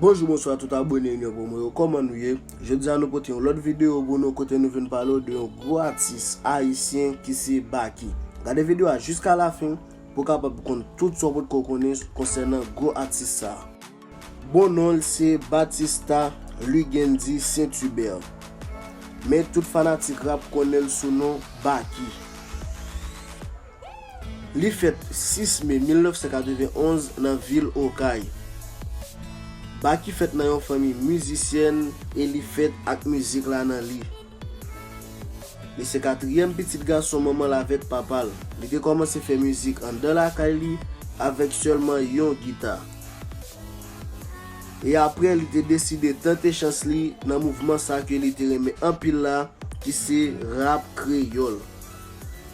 Bonjou bonswa tout abone yon pou mwen yo koman nou ye Jodi a nou pote yon lot video pou nou kote nou vin pale ou de yon gwo atis ayisyen ki se Baky Gade video a jiska la fin pou kapab konn tout sa ou potko konnen konsènan gwo atis sa Bon non l se Batista Luguendy Saint Hubert, men tout fanatik rap konnen l sou non Baky. Li fèt 6 me 1991 nan vil Okay. Baky fèt nan yon fanmi mizisyèn e li fèt ak mizik la nan li. Li se katriyèm pitit gason manman l avèk papa l. Li te kòmanse fè mizik anndan lakay li avèk sèlman yon gita. E aprè li te deside tante chans li nan mouvman sa ke li te renmen anpil la ki se rap kreyòl.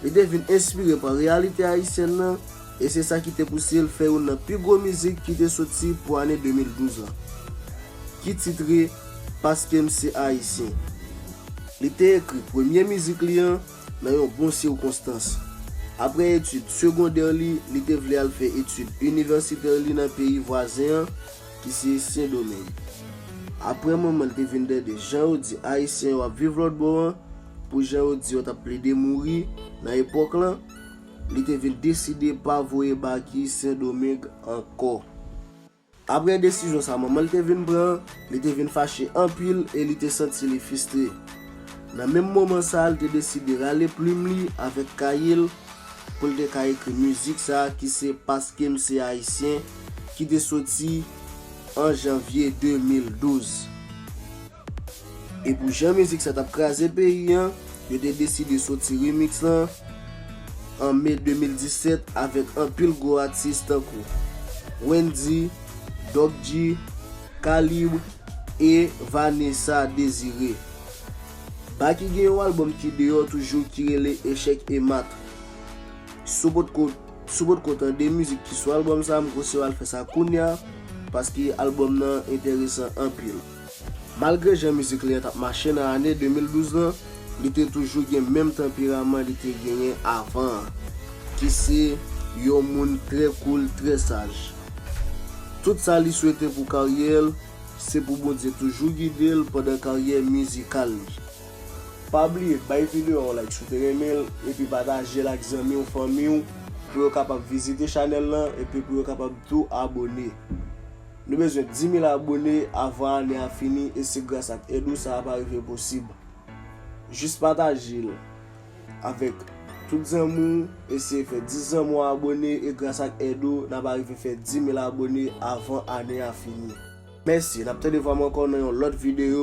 Li te vin enspire pa reyalite ayisyèn nan. E se sa ki te pouse l fè youn nan pi gwo mizik ki te soti pou ane 2012 lan, ki titre Paske m se Ayisyen. Li te ekri premye mizik li an nan yon bon sikonstans. Aprè etid segondè li, li te vle al fè etid inivèsitè li nan peyi vwazen an ki se Sen Domeng. Aprè manman l te vin tande jan yo di Ayisyen yo ap viv lòtbò an, pou jan yo di yo t ap plede mouri nan epòk lan, Li te vin deside pa voye Baky Sendomeng ankò. Aprè desizyon sa manman l te vin pran an, li te vin fache anpil e li te santi li fistre. Nan menm moman sa a, li te deside rale plim li avèk kaye l pou l te ka ekri mizik sa a ki se Paske m se Ayisyen ki te soti an janvye 2012. E pou jan mizik sa tap kraze peyi an, yo te deside soti remix la an Me 2017 avèk anpil gwo atis tankou, Wendy, Doc G, K-Libre e Vanessa Désiré. Baky gen yon album ki deyò toujou ki rele Echec et Mat. Si w potko si w potko tande mizik ki sou album sa m konseye w al fè sa kounya paske album nan enteresan anpil. Malgre jan mizik li an t ap mache nan ane 2012 lan, li te toujou gen menm tanperaman li te genyen avan an, ki se yon moun trè koul, trè saj. Tout sa li swete pou karyè l, se pou Bondye toujou gide l pandan karyè mizikal li. Pa bliye bay video a yon like si w te renmen l epi pataje l ak zanmi w, fanmi w pou yo kapab vizite chanèl lan epi pou yo kapab tou abone. Nou bezwen 10000 abone avan ane a fini e se gras ak èd ou sa a va rive posib. Jis pataje l avèk tout zanmi w, eseye fè 10 zanmi w abone e gras ak èd ou nap arive fè 10000 abone avan ane a fini. Mèsi, nap tande vwa m ankò nan yon lòt videyo.